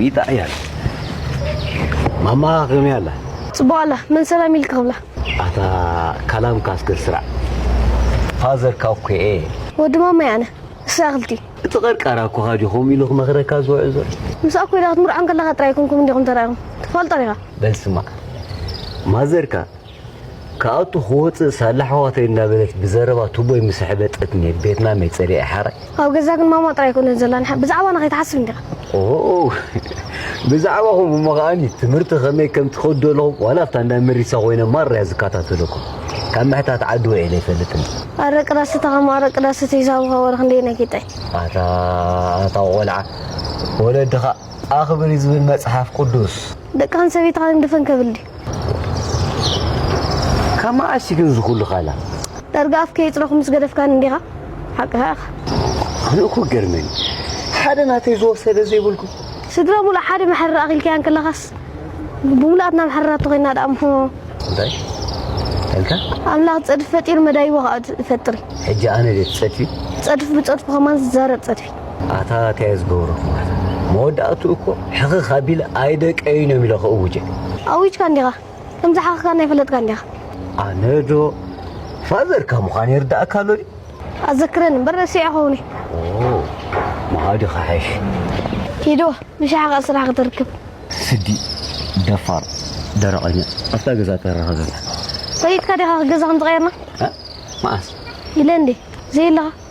ይጣያል ማማ ከመይ ኣላ ጽቡቅ ኣላ መን ሰላም ኢልካ ክብላ ኣታ ካላም ካስገር ስራዕ ፋዘር ካኩኤ ወዲ ማማይ ኣነ እሳ ክልቲ እቲ ቀርቃራ እኮ ካዲኹም ኢሉ ክመኽረካ ዝውዕል ዘሎ ምስ ኣኮይዳ ክትምርዖን ከለካ ጥራይ ኮንኩም እንዲኹም ተራኢኹም ትፈልጦ ዲኻ በል ስማዕ ማዘርካ ካብ'ቱ ክወጽእ ሳላ ኣሕዋተይ እናበለት ብዘረባ ቱቦይ ምስ ኣሕበጠት እኒኤ ቤት ማመይ ጸሊኤ ሓራይ። ኣብ ገዛ ግን ማማ ጥራይ ኣይኮነትን ዘላ ንሓ ብዛዕባና ከይትሓስብ እንዲኻ። ኦው ብዛዕባኹም እሞ ከኣኒ ትምህርቲ ከመይ ከም ትኸዱ ዘለኹም ዋላ ኣብታ እንዳ መሪሳ ኮይነ ማራ እየ ዝከታተለኩም ካብ ምሕታት ዓዲ ውዒለ ኣይፈልጥን። ኣረቂ ዳስታ ከም ኣረቂ ዳስቲ ሂሳብኻ ወረ ክንደየናይ ጌጣይ። ኣታ ኣታ ቆልዓ ወለድኻ ኣኽብሪ ዝብል መጽሓፍ ቅዱስ። ደቅኻን ሰበይትኻን ግን ድፈን ከብል ድዩ። ካብ መዓስ እዩ ግን እዚ ኩሉ ቃላት? ዳርጋ ኣፍ ከየጽረኹ ምስ ገደፍካኒ እንዲኻ ሓቅኻ ኢኻ። ኣነ እኮ ይገርመኒ ሓደ ናተይ ዝወሰደ ዘይብልኩም። ስድራ ሙሉእ ሓደ መሕረር ኣኺልካያ እንከለኻስ ብሙሉኣትና መሕረራት ተኾይና ደኣ እሞ። እንታይ ኣልካ? ኣምላኽ ዝጸድፍ ፈጢሩ መዳይቦ ከኣ ይፈጥር እዩ። ሕጂ ኣነ ድየ ትጸድፊ? ዝጸድፍ ብጸድፉ ከማን ዝዛረብ ጸድፊ። ኣታ ኣታይ ዝገብረኩማ መወዳእትኡ እኮ ሕኽኽ ኣቢለ ኣይደቀይን እዮም ኢለ ክእውጀ። ኣዊጅካ እንዲኻ ከም ዝሓኽካን ኣይፈለጥካን ዲኻ? ኣነ ዶ ፋዘርካ ምዃን ይርዳእካ ኣሎ ድዩ? ኣዘክረኒ እምበር ረሲዐ ክኸውን እየ። መኣዲ ክሓይሽ። ሂዶ ንሻዕ ከኣ ስራሕ ክትርክብ። ስዲ ደፋር ደረቐኛ ኣብታ ገዛ ተረኸ ዘላ ፈሊጥካ ዲኻ ገዛ ከም ዝቐየርና? መዓስ ኢለ እንዴ ዘይለኻ